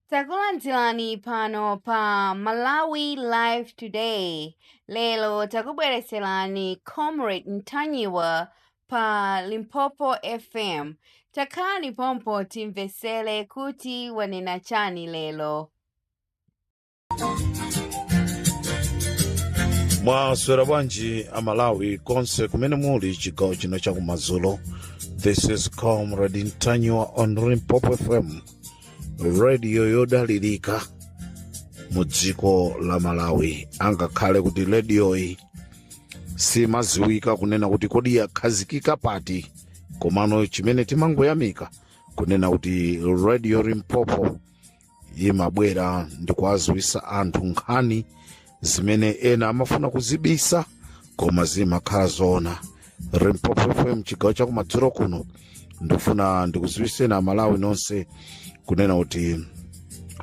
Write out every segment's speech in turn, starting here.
Takulandirani pano pa Malawi Live Today. Lero takubweretserani Comrade Ntanyiwa pa Limpopo FM. Takhalani pompo timvetsere kuti wanena chani lero. mwaswera bwanji amalawi konse kumene muli chigawo chino chakumadzulo this is comrade ntanyiwa on limpopo fm radio yodalirika mu dziko la malawi angakhale kuti rediyoyi simaziwika kunena kuti kodi yakhazikika pati komano chimene timangoyamika kunena kuti radio limpopo imabwera ndi kuwadziwitsa anthu nkhani zimene ena amafuna kuzibisa koma zimakhala zoona limpopo fm chigawo chakumadzulo kuno ndikufuna ndikudziwitseni amalawi nonse kunena kuti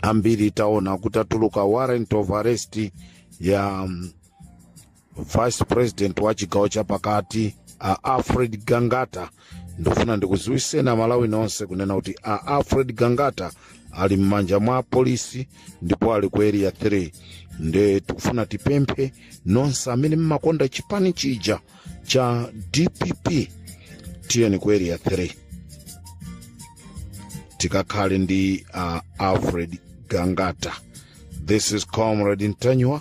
ambiri taona kuti atuluka warrant of arrest ya um, vice president wa chigawo chapakati a alfred gangata ndifuna ndikuziwiseni amalawi nonse kunena kuti a alfred gangata ali m'manja mwa apolisi ndipo ali ku area 3 nde tikufuna tipemphe nonse amene mmakonda chipani chija cha dpp tiyeni ku area 3 tikakhale ndi uh, alfred gangata this is comrade ntanyiwa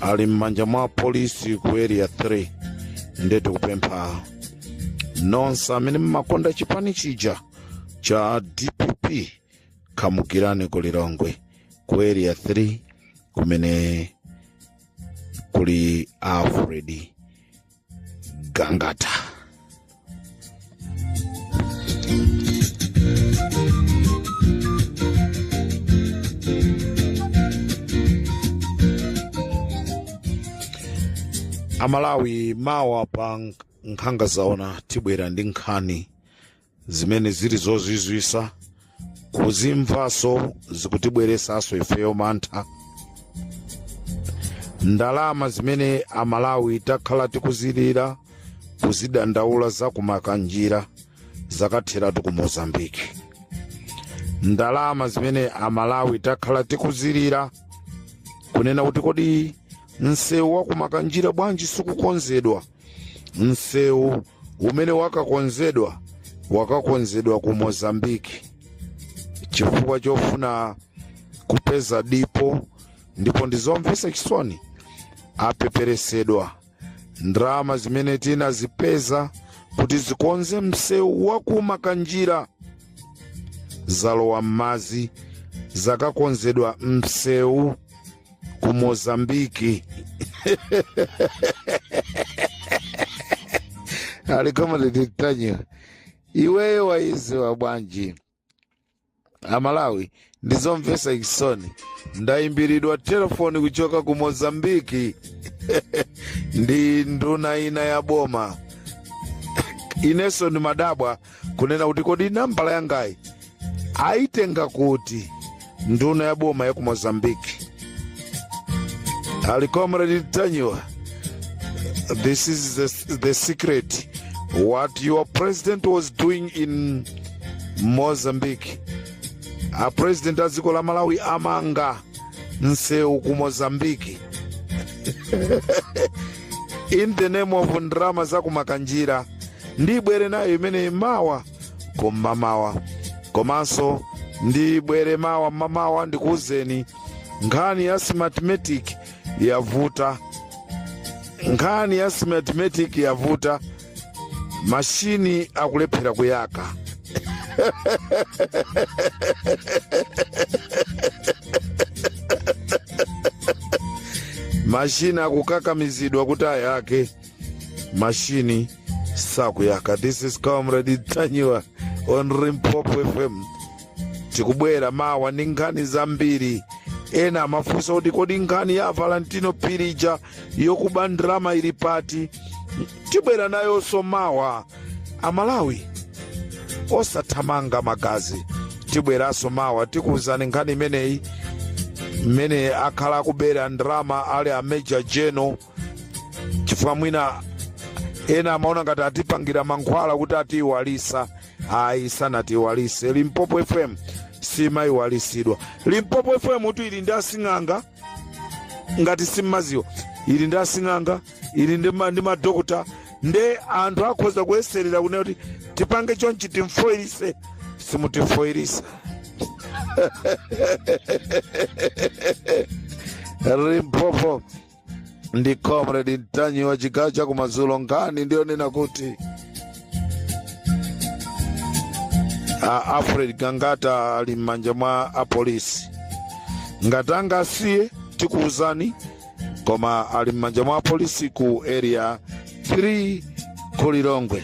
ali m'manja mwa apolisi ku area 3 nde tikupempha nonse amene mmakonda chipani chija cha dpp khamukirani ku lilongwe ku area 3 kumene kuli alfred gangata amalawi mawa pa nkhanga zaona tibwera ndi nkhani zimene zili zozizwisa kuzimvaso zikutibweresaso ifeyo mantha ndalama zimene amalawi takhala tikuzilira kuzidandaula zaku makanjira zakatheratu ku mozambiki ndalama zimene amalawi takhala tikuzilira kunena kuti kodi msewu waku makanjira bwanji sikukonzedwa msewu umene wakakonzedwa wakakonzedwa ku mozambiki chifukwa chofuna kupeza dipo ndipo ndizomvesa chisoni apepesedwa ndalama zimene tinazipeza kuti zikonze msewu wa ku Makanjira zalowa m'madzi zakakonzedwa msewu ku mozambiki ali Comrade Ntanyiwa iweyo wayiziwa bwanji amalawi ndizomvesa chisoni ndayimbiridwa telefoni kuchoka ku mozambiki ndi nduna ina ya boma ineso ndimadabwa kunena kuti kodi nambala yangayi ayitenga kuti nduna ya boma ya ku mozambique ali Comrade Ntanyiwa this is the secret what your president was doing in mozambique a president a dziko la malawi amanga msewu ku mozambiki in the name of ndrama za ku Makanjira ndibwere nayo imeneyi mawa kum'mamawa komanso ndibwere mawa m'mamawa ndikuwuzeni nkhani ya smartmatic yavuta nkhani ya smartmatic yavuta mashini akulephera kuyaka mashini akukakamizidwa kuti ayake mashini sakuyaka this is Comrade Ntanyiwa on Limpopo FM tikubwera mawa ndi nkhani zambiri ena amafunsa kuti kodi nkhani ya Valentino Phiri ija yokuba ndrama ili pati tibwera nayonso mawa amalawi osathamanga magazi tibweranso mawa tikuwuzani nkhani imeneyi mmene akhala akubera ndrama ali a major general chifukwa mwina ena amaona ngati atipangira mankhwala kuti atiiwalisa ayi sanatiiwalise limpopo fm simayiwalisidwa limpopo fm tu ili ndi asing'anga ngati simmaziwa ili ndi asing'anga ili ndi madokotala nde anthu akhoza kuyeserera kunena kuti tipange chonchi timfoyirise simutifoyirisa Limpopo ndi Comrade Ntanyiwa chigawo chakumadzulo nkhani ndiyonena kuti a alfred gangata ali m'manja mwa apolisi ngati angawasiye tikuwuzani koma ali m'manja mwa apolisi ku area 3 ku lilongwe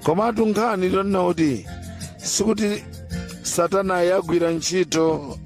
komatu nkhani ndiyonena kuti sikuti satana yagwira ntchito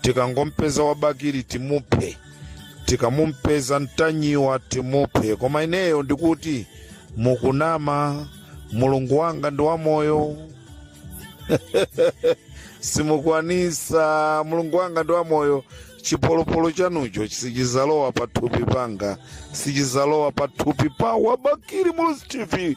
tikangompeza wa bakili timuphe tikamumpeza mtanyiwa timuphe koma ineyo ndikuti mukunama mulungu wanga ndi wamoyo simukwanisa mulungu wanga ndi wamoyo chipolopolo chanucho sichizalowa pathupi panga sichizalowa pathupi pa wa bakili muluzi tv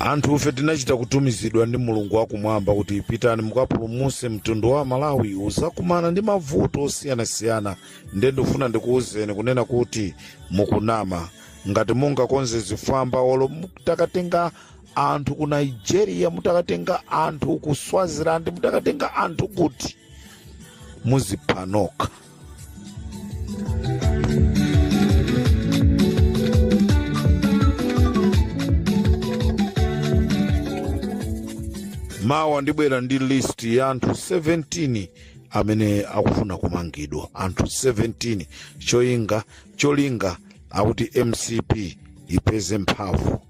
Anthufe tinachita kutumizidwa ndi Mulungu wakumwamba kuti pitani mukapulumutse mtundu wa aMalawi uzakumana ndi mavuto osiyanasiyana nde ndikufuna ndikuwuzeni kunena kuti mukunama ngati mungakonze zifwamba olo mutakatenga anthu ku Nigeria mutakatenga anthu ku Swaziland mutakatenga anthu kuti muzipha nokha mawa ndibwera ndi list ya anthu 17 amene akufuna kumangidwa anthu 17 cholinga cholinga akuti mcp ipeze mphamvu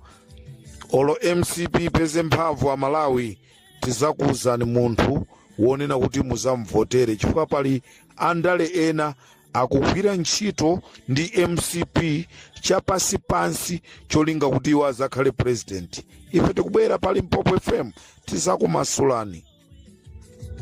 olo mcp ipeze mphamvu amalawi tizakuuzani munthu wonena kuti muzamvotere chifukwa pali andale ena akugwira ntchito ndi mcp chapansi pansi cholinga kuti iwo azakhale president ife tikubwera pa limpopo fm tizakumasulani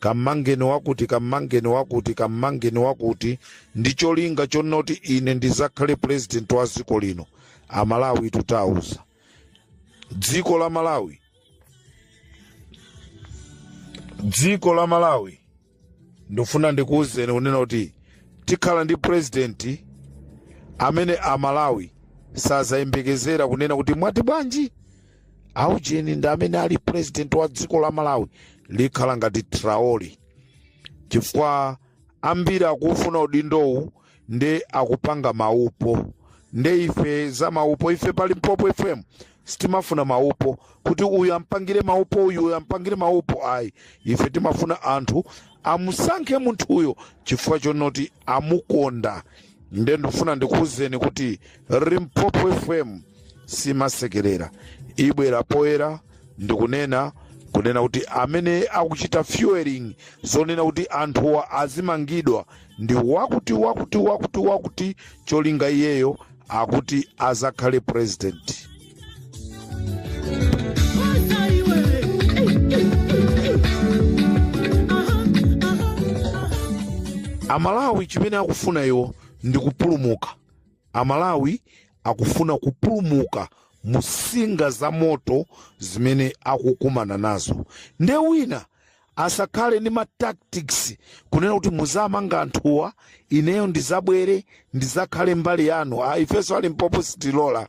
kamangeni wakuti kamangeni wakuti kamangeni wakuti ndi cholinga chonoti ine ndizakhale president wa dziko lino amalawi titauza dziko la malawi dziko la malawi ndifuna ndikuwuzeni kunena kuti tikhala ndi president amene amalawi sazayembekezera kunena kuti mwati bwanji aujeni ndi amene ali president wa dziko la malawi likhala ngati traore chifukwa ambiri akuwufuna udindowu nde akupanga maupo nde ife za maupo ife pa limpopo fm sitimafuna maupo kuti uyu ampangire maupo uyu uyu ampangire maupo ayi ife timafuna anthu amusankhe munthuyo chifukwa chonoti amukonda nde ndifuna ndikuwuzeni kuti limpopo fm simasekerera ibwera poyera ndikunena kunena kuti amene akuchita fueling zonena kuti anthuwa azimangidwa ndi wakuti wakuti wakuti wakuti cholinga iyeyo akuti azakhale president amalawi chimene akufuna iwo ndi kupulumuka amalawi akufuna kupulumuka musinga za moto zimene akukumana nazo nde wina asakhale ndi matactics kunena kuti muzamanga anthuwa ineyo ndizabwere ndizakhale mbali yanu ayi ifenso a Limpopo sitilola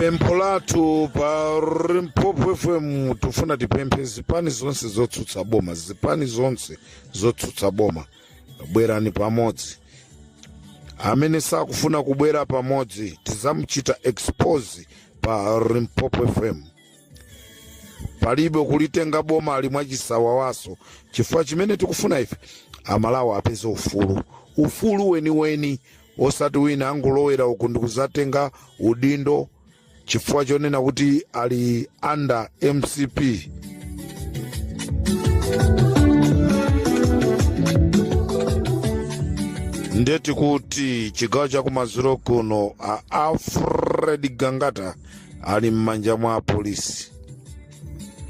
pempho lathu pa Limpopo fm tifuna tipemphe zipani zonse zotsutsa boma zipani zonse zotsutsa boma bwerani pamodzi amene sakufuna kubwera pamodzi tizamuchita expose pa Limpopo fm palibe kulitenga boma ili mwachisawawaso chifukwa chimene tikufuna ife amalawi apeze ufulu ufulu weniweni osati wina angolowera uku ndikuzatenga udindo chifukwa chonena kuti ali under mcp ndeti kuti chigawo chakumadzulo kuno a alfred gangata ali m'manja mwa apolisi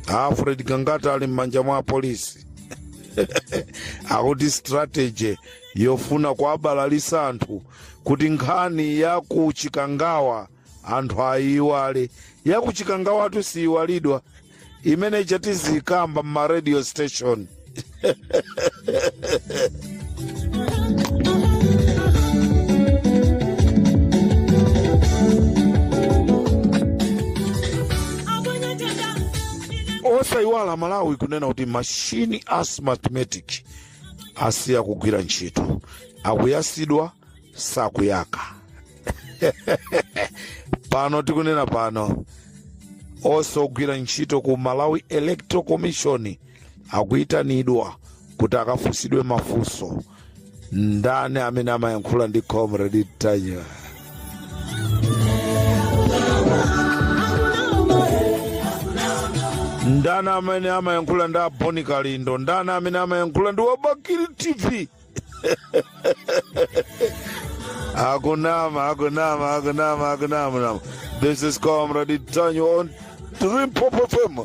a alfred gangata ali m'manja mwa apolisi akuti strategy yofuna kuwabalalisa anthu kuti nkhani ya ku chikangawa anthu ayiiwale ya ku chikangawatu siyiwalidwa imenecha tizikamba mma radio station osayiwala malawi kunena kuti machine a Smartmatic asiya kugwira ntchito akuyasidwa sakuyaka pano tikunena pano onse ogwira ntchito ku malawi electoral commission akuyitanidwa kuti akafunsidwe mafunso ndani amene amayankhula ndi comrade Ntanyiwa ndani amene amayankhula ndi aboni kalindo ndani amene amayankhula ndi wa Bakili tv akunama akunama akunama akunama nama. this is comrade Ntanyiwa on Limpopo fm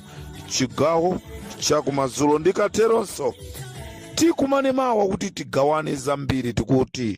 chigawo chakumadzulo ndikateronso tikumane mawa kuti tigawane zambiri tikuti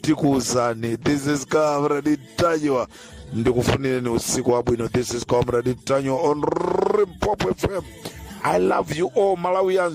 tikuuzani this is comrade tanyiwa ndikufunireni usiku wabwino this is comrade tanyiwa on rimpopo fm i love you all malawians